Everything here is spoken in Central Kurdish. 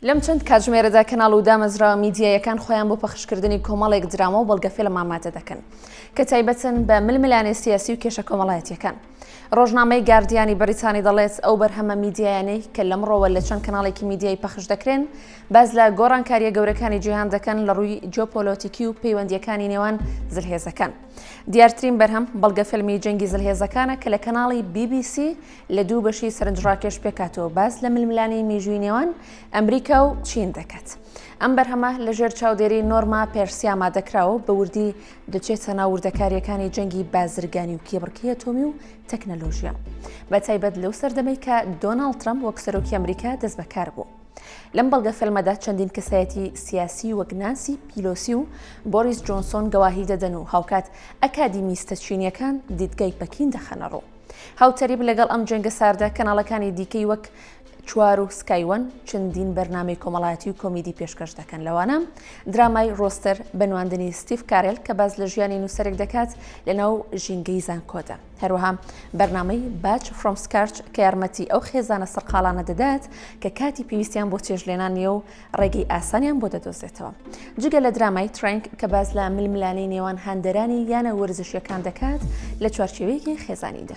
لەم چەند کاتژمێرەدا کەناڵ و دامەزراوە میدیاییەکان خۆیان بۆ پەخشکردنی کۆمەڵێک درامە و بەڵگەفیلم ئامادە دەکەن کە تایبەتن بە ململانێ سیاسی و کێشە کۆمەڵایەتیەکان. ڕۆژنامەی گاردیانی بەریتانی دەڵێت ئەو بەرهەمە میدیایانەی کە لەمڕۆوە لە چەند کەناڵێکی میدیایی پەخش دەکرێن باز لە گۆڕانکاریە گەورەکانی جیهان دەکەن لە ڕووی جۆپۆلۆتیکی و پەیوەندیەکانی نێوان زلهێزەکان. دیارترین بەرهەم بەڵگەفیلمی جەنگی زلهێزەکانە کە لە کەناڵی BBC لە دوو بەشی سەرنجڕاکێش پێکاتەوە باس لە ململانێی میژووی نێوان ئەمریکا و چین دەکات. ئەم بەرهەمە لە ژێر چاودێری نۆرما پێرسیا مادەکراوە بە وردی دەچێتە ناو وردەکاریەکانی جەنگی بازرگانی و کێبڕکی ئەتۆمی و تەکنەلۆژیا بە تایبەت لەو سەردەمەی کە دۆناڵ ترەم وەک سەرۆکی ئەمریکا دەست بەکار بوو. لەم بەڵگە فەلمەدا چەندین کەسایەتی سیاسی وەک نانسی پیلۆسی و بۆریس جۆنسۆن گەواهی دەدەن و هاوکات ئەکادیمیستە چینیەکان دیدگای پەکین دەخەنەڕوو. هاوتەریب لەگەڵ ئەم جەنگە ساردە کەناڵەکانی دیکەی وەک چوار و سکایوەن چەندین بەرنمەی کۆمەڵایەتی و کۆمیدی پێشکەش دەکەن لەوانە درامای ڕۆستەر بەنواندنی ستیف کارل کە باز لە ژیانی نووسەرێک دەکات لەناو ژینگەی زانکۆدا هەروەها بەرنمەی باچ فرۆمسکارچ کە یارمەتی ئەو خێزانە سەرقالانە دەدات کە کاتی پێویستیان بۆ چێژلێنان نیە و ڕێگەی ئاسانیان بۆ دەدۆزێتەوە جگە لە درامای ترنک کە باز لە ململانەی نێوان هاندەرانی یانە وەرزشیەکان دەکات لە چوارچێوەیەکی خێزانیدا.